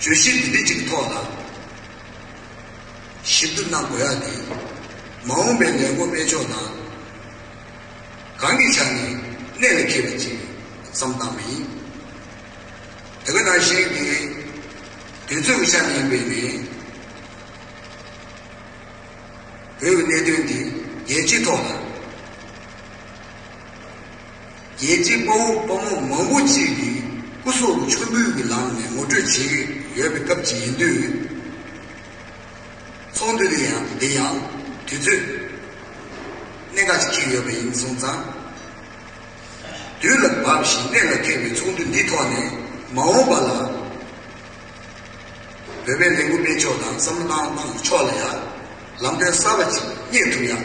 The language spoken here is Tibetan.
བརྗོད་གཞི་འདི་འདྲི་གཅིག་ཐོག་ལ་ཞིབ་ཏུ་གནང་དགོས་ཡ་འདུག་མ་འོངས་པའི་ལས་འགོ་སྤེལ་ཕྱོགས་དང། གང་གི་ཆ་ནས་གནད་ལ་འཁེལ་བའི་ཅིག་བསམ་བཏང་བ་ཡིན། དེ་ག་ནང་བཞིན་གྱི་དུས་ཚོད་ཀྱི་ཆ་ནས་ཡིན་པས་ནི། བོད་ཀྱི་གནད་དོན་འདི་རྒྱལ་སྤྱིའི་ཐོག་ལ། རྒྱལ་གཅེས་དཔའ་བོ་དཔའ་མོ་མང་བོ་ཅིག་གིས་སྐུ་སྲོག་མཆོད་འབུལ་གྱི་ལམ་ནས་ངོ་སྤྲོད་བྱེད་ཀྱི་ཡོད་པའི་སྐབས་ཅིག་ཡིན་དུས། ཚོགས་འདུ་དེ་ཡང་དེ་ཡང་དུས་ཚོད་གནད་འགག་ཅིག་འཁེལ་ཡོད་པ་ཡིན་སོང་ཙང། དུས་ལ་བབས་བཞིན་གནད་ལ་ཐེག་པའི་ཚོགས་འདུ་འདི་ཐོག་ནས་མ་འོངས་པ་ལ། བོད་པའི་ལས་འགུལ་སྤེལ་ཕྱོགས་དང་བསམ་བློ་བཏང་ཕྱོགས་ལ་ཡང་ལམ་སྟོན་གསར་བ་ཅིག་རྙེད་ཐུབ་ཡག།